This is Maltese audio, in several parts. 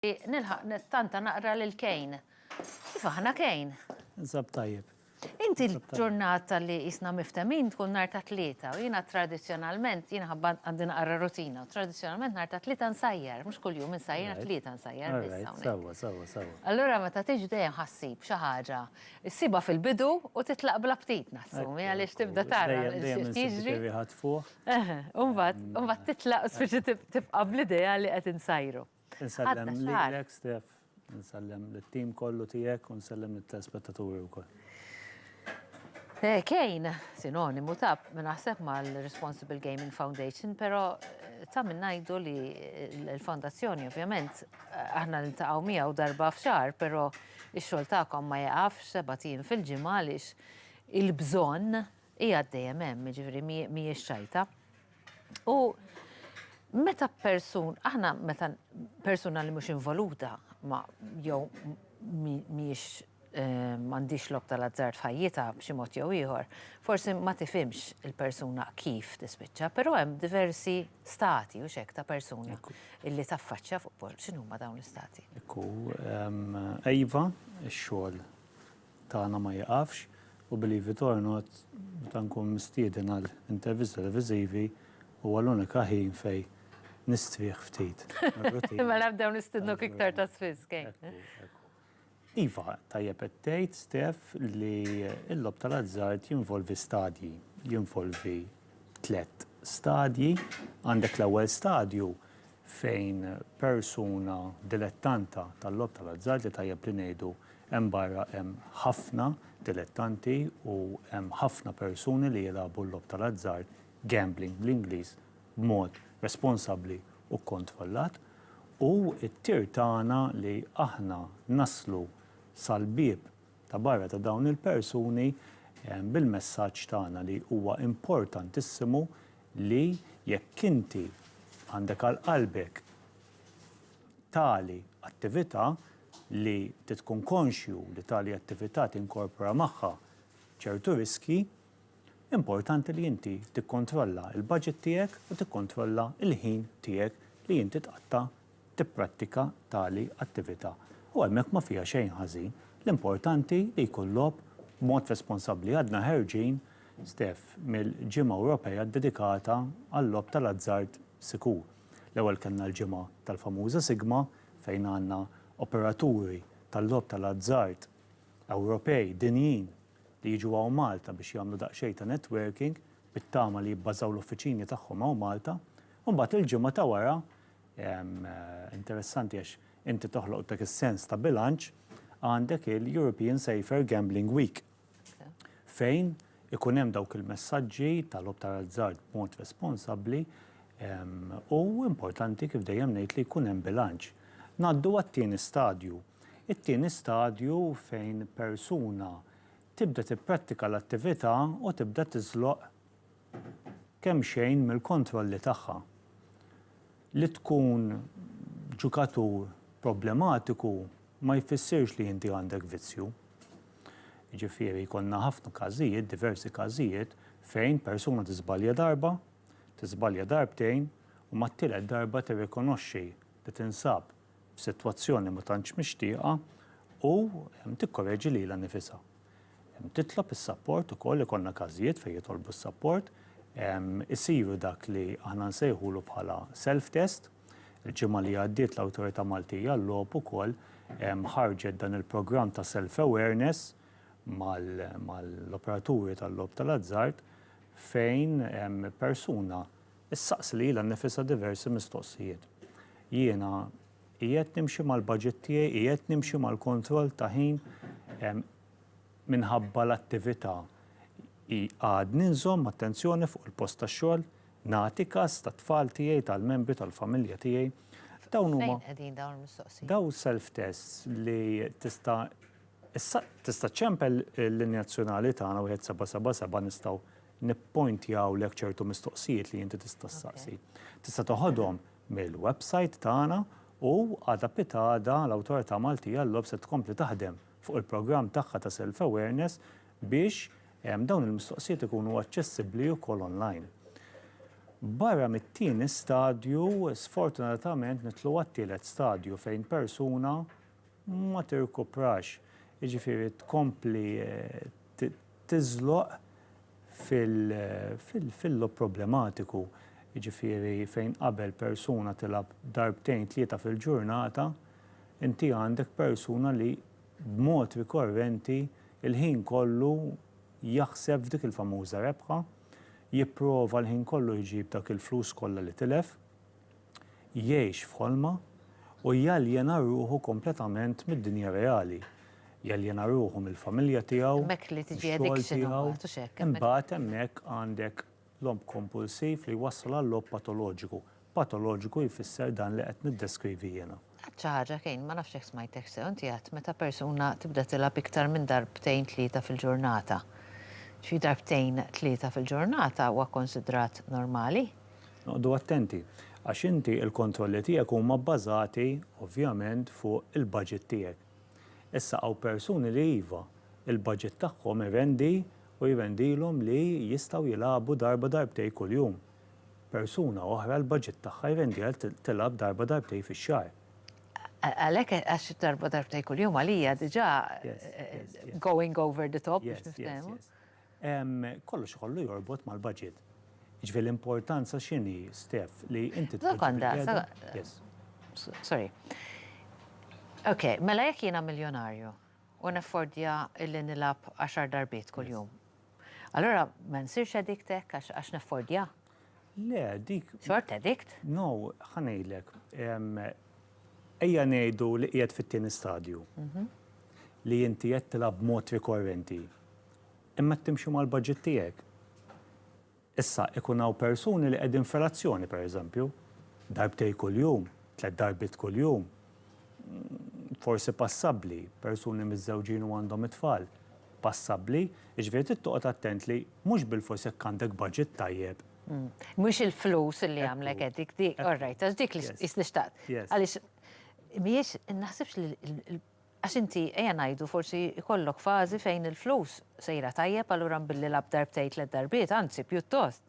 Nilħaq nittanta naqra lil Kejn. Kif aħna Kejn? Ninsab tajjeb. Inti l-ġurnata li qisna miftehmin tkun nhar ta' Tlieta u jiena tradizzjonalment jiena ħabba għandi naqra rutina u tradizzjonalment nhar ta' Tlieta nsajjar, mhux kuljum insajjar nhar Tlieta nsajjar biss hawnhekk. Sewwa, sewwa, sewwa. Allura meta tiġi dejjem ħassib xi ħaġa ssibha fil-bidu u titlaq bla ftit nassumi għaliex tibda tara x'qed jiġri. Eħe, u mbagħad titlaq u spiċċa tibqa' bl-idea li qed insajru. Insellem lilek Stef, insellem lit-tim kollu tiegħek u nsellem lit-telespettaturi wkoll. Kejn, sinonimu ta' naħseb mal-Responsible Gaming Foundation, però ta' min ngħidu li l-fondazzjoni ovvjament aħna niltaqgħu miegħu darba f'xahar, però x-xogħol tagħkom ma jaqafx seba' tim fil-ġimgħa għaliex il-bżonn Hi għad dejjem hemm, jiġifieri mhijiex xajta. U meta persun, aħna meta persuna li mhux involuta ma jew mhijiex ehm, m'għandix lob tal-azzard f'ħajjitha b'xi mod jew ieħor, forsi ma tifhimx il-persuna kif tispiċċa, però hemm diversi stati u xek ta' persuna illi taffaċċja fuq pol. X'inhuma dawn l-istati? Ekku, ehm, Eva, ix-xogħol tagħna ma jieqafx u Believe it or not meta nkun mistieden għal intervisti televiżivi huwa l-unika ħin fejn nistrieħ ftit mir-routine. Mela nibdew nistidnuk iktar ta' spiss, Kane. Ekku, ekku. Iva, tajjeb qed tgħid, Steph, li l-logħob tal-azzard jinvolvi stadji, jinvolvi tliet stadji. Għandek l-ewwel stadju fejn persuna dilettanta tal-logħob tal-azzard li tajjeb li ngħidu hemm barra hemm ħafna dilettanti u hemm ħafna persuni li jilagħbu l-logħob tal-azzard, gambling bl-Ingliż, b'mod responsabbli u kkontrollat. U t-tir tagħna li aħna naslu sal-bieb Ta' barra ta' dawn il-persuni, bil-messaġġ tagħna li huwa importantissimu li jekk inti għandek għal qalbek tali attività li inti tkun konxju li tali attività tinkorpora magħha ċertu riskji, Importanti li inti tikkontrolla l-baġit tiegħek u tikkontrolla l-ħin tiegħek li inti tqatta' tipprattika tali attività. U hemmhekk ma fiha xejn ħażin. L-importanti li jkun logħob b'mod responsabbli. Għadna ħerġin, Steph, mill-Ġimgħa Ewropea ddedikata għal-logħob tal-azzard sikur. L-ewwel kellna l-ġimgħa tal-famuża sigma fejn għandna operaturi tal-logħob tal-azzard Ewropej, dinjin, li jiġu hawn Malta biex jagħmlu daqsxejn ta' networking bit-tama li jibbażaw l-uffiċini tagħhom hawn Malta, u mbagħad il-ġimgħa ta' wara, interessanti għax inti toħloq dak is-sens ta' bilanċ, għandek il-European Safer Gambling Week fejn ikun hemm dawk il-messaġġi ta' logħob tal-azzard b'mod responsabbli u importanti kif dejjem ngħid li jkun hemm bilanċ. Ngħaddu għat-tieni stadju. It-tieni stadju fejn persuna tibda tipprattika l-attività u tibda tiżloq kemxejn mill-kontrolli tagħha. Li tkun ġukatur problematiku ma jfissirx li inti għandek vizzju. Jiġifieri jkollna ħafna każijiet, diversi każijiet, fejn persuna tiżbalja darba, tiżbalja darbtejn u mat-tielet darba tirrikonoxxi li tinsab f'sitwazzjoni ma tantx mixtieqa u tikkoreġi lilha nnifisha. Titlob is-sapport ukoll, ikollna każijiet fejn jitolbu s-sapport, isiru dak li aħna nsejħulu bħala self test. Il-ġimgħa li għaddiet l-Awtorità Maltija għal-Logħob ukoll ħarġet dan il-programm ta' self awareness mal-operaturi tal-logħob tal-azzard fejn persuna Issaqsi lilha nnifisha diversi mistoqsijiet. Jiena qiegħed nimxi mal-baġit tiegħi, qiegħed nimxi mal-kontroll ta' ħin minħabba l-attività? Għadni nżomm attenzjoni fuq il-post tax-xogħol? Nagħti kas tat-tfal tiegħi, tal-membri tal-familja tiegħi? Dawn huma. Fejn qegħdin dawn il-mistoqsijiet? Dawn self-tests li tista' tista' ċċempel il-linja azzjonali tagħna 1777 nistgħu nippointjawlek ċertu mistoqsijiet li inti tista' ssaqsi. Tista' teħodhom mill-website tagħna u għada pitgħada l-Awtorità Maltija għall-Logħob se tkompli taħdem fuq il-programm tagħha ta' Self Awareness biex dawn il-mistoqsijiet ikunu aċċessibbli wkoll online. Barra mit-tieni stadju, sfortunatament nidħlu għat-tielet stadju fejn persuna ma tirkuprax, jiġifieri tkompli tiżloq fil-lob problematiku, jiġifieri fejn qabel persuna tilgħab darbtejn tlieta fil-ġurnata, inti għandek persuna li b'mod rikorrenti l-ħin kollu jaħseb f'dik il-famuża rebħa, jipprova l-ħin kollu jġib dak il-flus kollha li tilef. jgħix f'ħolma u jaljena ruħu kompletament mid-dinja reali, jaljena ruħu mill-familja tiegħu, mix-xogħol tiegħu, imbagħad hemmhekk għandek logħob kompulsiv li jwassal għal logħob patoloġiku, patoloġiku jfisser dan li qed niddeskrivi jiena. Għedt xi ħaġa Kane, ma nafx jekk smajtek sew, inti għedt meta persuna tibda tilgħab iktar minn darbtejn tlieta fil-ġurnata. Ġifieri darbtejn tlieta fil-ġurnata huwa kkonsidrat normali? Noqogħdu attenti, għax inti l-kontrolli tiegħek huma bbażati ovvjament fuq il-budget tiegħek. Issa hawn persuni li iva, il-budget tagħhom irendi u jrendilhom li jistgħu jilagħbu darba darbtejn kuljum. Persuna oħra l-baġit tagħha jrendiha li tilgħab darba darbtejn fix-xahar. Għalhekk għax darba darbtejn kuljum għalija diġà going over the top biex niftehmu. Kollox ikollu jorbot mal-baġit. Jiġifieri l-importanza x'inhi, Steph, li inti tpoġġi. Sekonda, sorry. Ok, mela jekk jiena miljonarju u naffordja li nilgħab għaxar darbiet kuljum. Allura ma nsirx addict hekk għax naffordja? Le, dik. Xort addict? No, ħanejlek. Ejja ngħidu li qiegħed fit-tieni stadju. Mhm. Li inti qed tilgħab b'mod rikorrenti. Imma qed timxi mal-budget tiegħek. Issa, ikun hawn persuni li qegħdin f'relazzjoni, pereżempju, darbtejn kuljum, tliet darbiet kuljum, forsi passabbli, persuni miżżewġin u għandhom it-tfal, passabbli, jiġifieri trid toqgħod attent li mhux bilfors jekk għandek budget tajjeb. Mhux il-flus li jagħmlek addict, dik, all right, għax dik li qisni xtaqt. Għaliex mhijiex, naħsibx li Għax inti, ejja ngħidu, forsi jkollok fażi fejn il-flus sejra tajjeb, allura mbilli lgħabt darbtejn tliet darbiet, anzi pjuttost.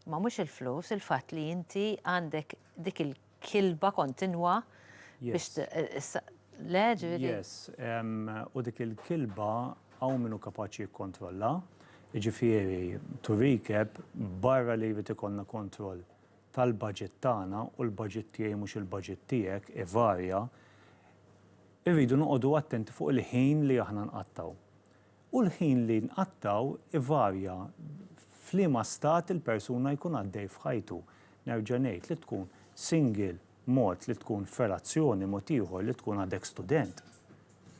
Imma mhux il-flus, il-fatt li inti għandek dik il-kilba kontinwa biex le, ġifieri. Yes. U dik il-kilba hawn min hu kapaċi jikkontrollha. Jiġifieri, to recap, barra li jrid ikollna kontroll tal-baġit tagħna, u l-baġit tiegħi mhux il-baġit tiegħek, ivarja, irridu noqogħdu attenti fuq il-ħin li aħna nqattgħu. U l-ħin li nqattgħu ivarja f'liema stat il-persuna jkun għaddej f'ħajtu. Nerġa' ngħid li tkun single mod, li tkun f'relazzjoni mod ieħor, li tkun għadek student,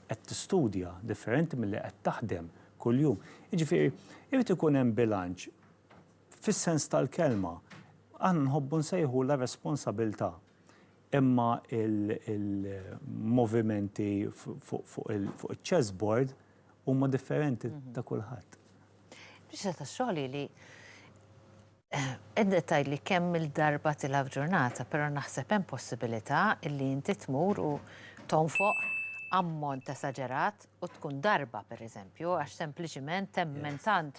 qed tistudja, differenti milli qed taħdem kuljum. Jiġifieri, irid ikun hemm bilanċ Fis-sens tal-kelma, aħna nħobbu nsejħulha responsabilità. Imma il-movimenti fuq il-chessboard huma differenti ta' kulħadd. Biċċa ta' xogħol hi li qegħda tgħidli kemm-il darba tilgħab f'ġurnata, però naħseb hemm possibilità li inti tmur u tonfoq ammont esaġerat u tkun darba, pereżempju, għax sempliċiment temmen tant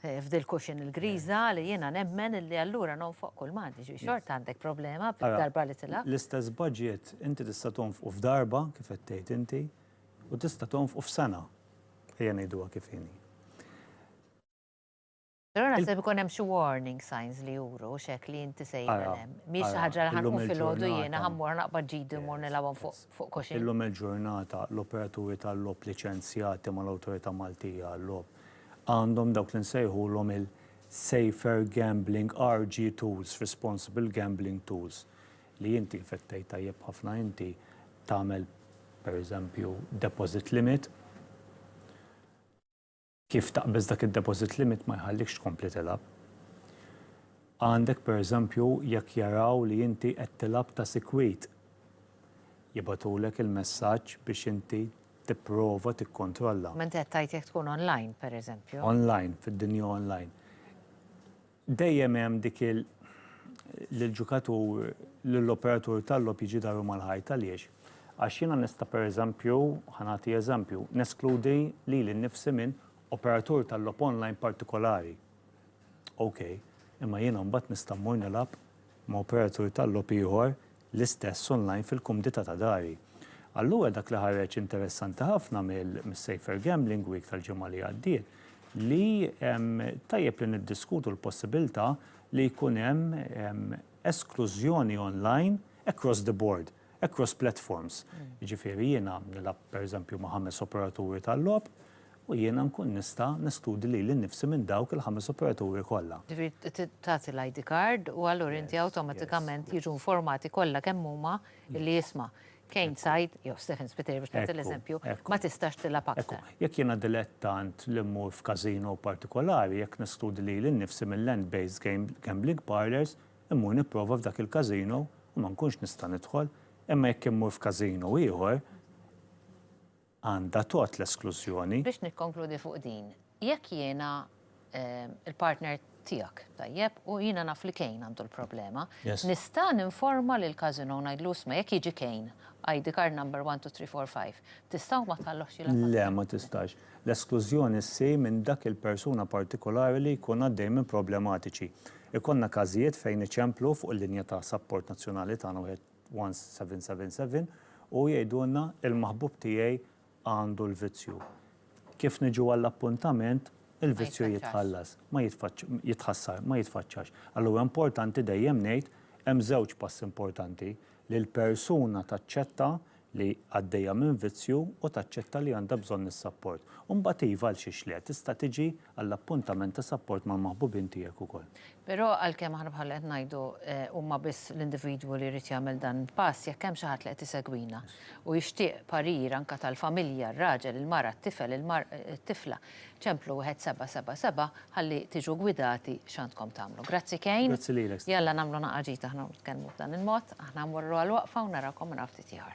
f'dil kuxin il-griża li jiena nemmen li allura nonfoq kull mandi, ġifieri xorta għandek problema darba li tilgħab. L-istess budget inti tista' tonfqu f'darba kif qed tgħid inti u tista' tonfqu f'sena, ejja ngħiduha kif inhi. Però naħseb ikun hemm xi warning signs li juru u x'hekk li inti sejjer hemm. Mhix xi ħaġa li ħa nqum filgħodu jiena ħa mmur naqbad ġidi u mmur nilgħabhom fuq kuxin. Illum il-ġurnata l-operaturi tal-logħob liċenzjati mal-Awtorità Maltija għal-Logħob għandhom dawk li nsejħulhom il-Safer Gambling RG Tools, Responsible Gambling Tools, li inti infettejt tajjeb ħafna inti tagħmel pereżempju deposit limit, kif taqbeż dak id-deposit limit ma jħallikx tkompli tilgħab. Għandek pereżempju jekk jaraw li inti qed tilgħab ta' sikwit, jibgħatulek il-messaġġ biex inti tipprova tikkontrolla. Ma inti qed tgħid jekk tkun online, pereżempju. Online, fid-dinja online. Dejjem hemm dik il li l-ġukatur, li l-operatur tal-logħob jiġi daru mal-ħajt. Għaliex? Għax jiena nista' pereżempju, ħa nagħti eżempju, neskludi lili nnifsi minn operatur tal-logħob online partikolari. Okej, imma jiena mbagħad nista' mmur nilgħab ma' operatur tal-logħob ieħor l-istess online fil-kumdità ta' dari. Allura dak li ħareġ interessanti ħafna mis-Safer Gambling Week tal-ġimgħa li għaddiet li tajjeb li niddiskutu l-possibilità li jkun hemm esklużjoni online across the board, across platforms. Jiġifieri jiena nilgħab pereżempju ma' ħames operaturi tal-logħob, u jiena nkun nista' neskludi lili nnifsi minn dawk il-ħames operaturi kollha. Ġifieri tagħti l-ID card u allura inti awtomatikament jiġu informati kollha kemm huma li isma', Kane Said jew Stephen Spiteri biex nagħti l-eżempju, ma tistax tilgħab aktar. Jekk jiena dilettant li mmur f'każino partikolari, jekk neskludi lili nnifsi mill-land based gambling parlours, immur nipprova f'dak il-każino u ma nkunx nista' nidħol, imma jekk immur f'każino ieħor, għandha tgħodd l-esklużjoni. Biex nikkonkludi fuq din, jekk jiena l-partner tiegħek, tajjeb, u jiena naf li Kane għandu l-problema, nista' ninforma lill-casino u ngħidlu, isma' jekk jiġi Kane, ID card number one, two, three, four, five, tista' u ma tħallohx jilgħab aktar? Le, ma tistax. L-esklużjoni ssir minn dak il-persuna partikolari li jkun għaddej minn problematiċi. Ikollna każijiet fejn iċemplu fuq il-linja ta' sapport nazzjonali tagħna wieħed. 1777 u jgħidulna il-maħbub tiegħi għandu l-vizzju. Kif niġu għall-appuntament, il-vizzju jitħallas, ma jitħassar, ma jitfaċċax. Alla huwa importanti dejjem ngħid hemm żewġ passi importanti, li l-persuna taċċetta li għaddejja minn vizzju u taċċetta li għandha bżonn is-sapport. U mbagħad iva għalxiex le, tista' tiġi għall-appuntament ta' sapport mal-maħbubin tiegħek ukoll. Però għalkemm aħna bħalli qed ngħidu huma biss l-individwu li jrid jagħmel dan il-pass, jekk hemm xi ħadd li qed isegwina u jixtieq parir anke tal-familja, r-raġel, il-mara, t-tifel, it-tifla, ċemplu wieħed seba' seba' seba' ħalli tiġu gwidati x'għandkom tagħmlu. Grazzi Kane. Grazzi lilek Stella. Jalla nagħmlu naqgħa ġid aħna u nitkellmu b'dan il-mod. Aħna mmorru għal waqfa u narawkom minn hawn ftit ieħor.